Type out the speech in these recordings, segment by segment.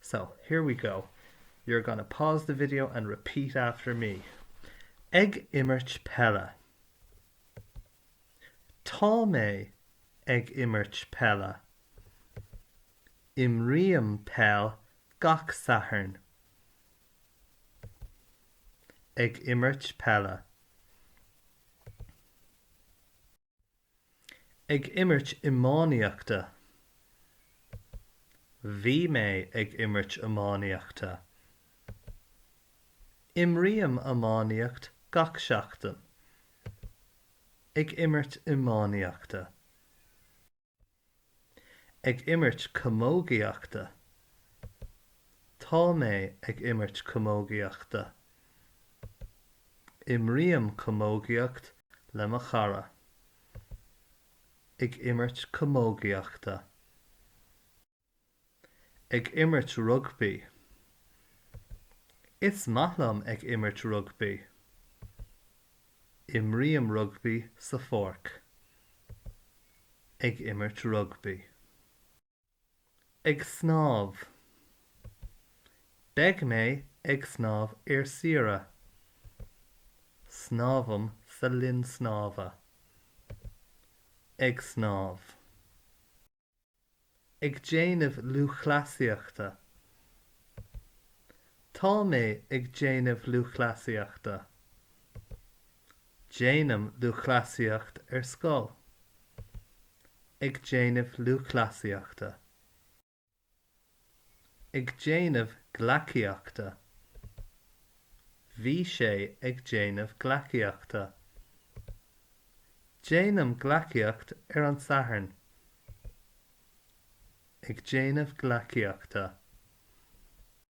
So, here we go. You're gonna pause the video and repeat after me. Ag imirt peile. Tá mé ag imirt peile. Imrím peil gach Satharn. Ag imirt peile. Ag imirt iománaíochta Bhí mé ag imirt iománaíochta. Imrím iománaíocht gach seachtain. Ag imirt iománaíochta. Ag imirt camógaíochta Tá mé ag imirt camógaíochta. Imrím camógaíocht le mo chara. Ag imirt camógaíochta. Ag imirt rugbaí. Is maith liom ag imirt rugbaí. Imrím rugbaí sa pháirc. Ag imirt rugbaí. Ag snámh. Beidh mé ag snámh ar saoire. Snámhaim sa linn snámha. Ag snámh. ag déanamh lúthchleasaíochta. Tá mé ag déanamh lúthchleasaíochta. Déanaim lúthchleasaíocht ar scoil. ag déanamh lúthchleasaíochta. ag déanamh gleacaíochta. Bhí sé ag déanamh gleacaíochta. Déanaim gleacaíocht ar an Satharn. ag déanamh gleacaíochta.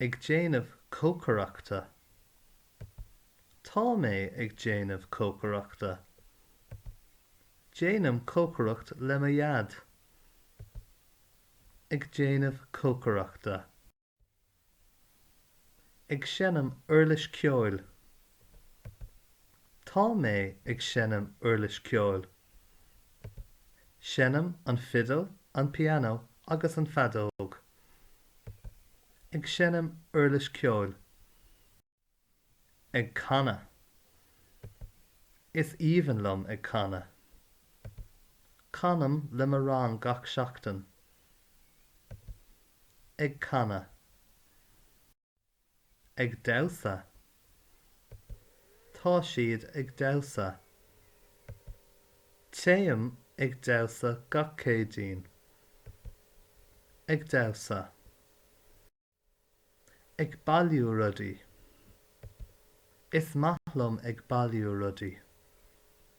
ag déanamh cócaireachta. Tá mé ag déanamh cócaireachta. Déanaim cócaireacht le mo dhaid. ag déanamh cócaireachta. ag seinm uirlis ceoil. Tá mé ag seinm uirlis ceoil. Seinnim an fhidil, an pianó agus an fheadóg. Ag seinm uirlis ceoil. Ag canadh. Is aoibhinn liom ag canadh. Canaim le mo rang gach seachtain. Ag canadh. ag damhsa Tá siad ag damhsa. Téim ag damhsa gach Céadaoin. ag damhsa Ag bailiú rudaí Is maith liom ag bailiú rudaí.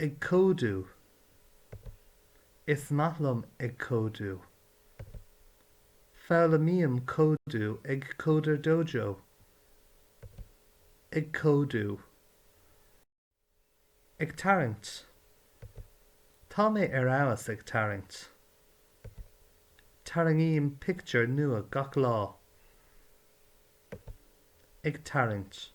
Ag códú. Is maith liom ag códú. Foghlaimím códú ag CoderDojo. Ag códú. Ag tarraingt. Tá mé ar fheabhas ag tarraingt. Tarraingím pictiúr nua gach lá. Ag tarraingt.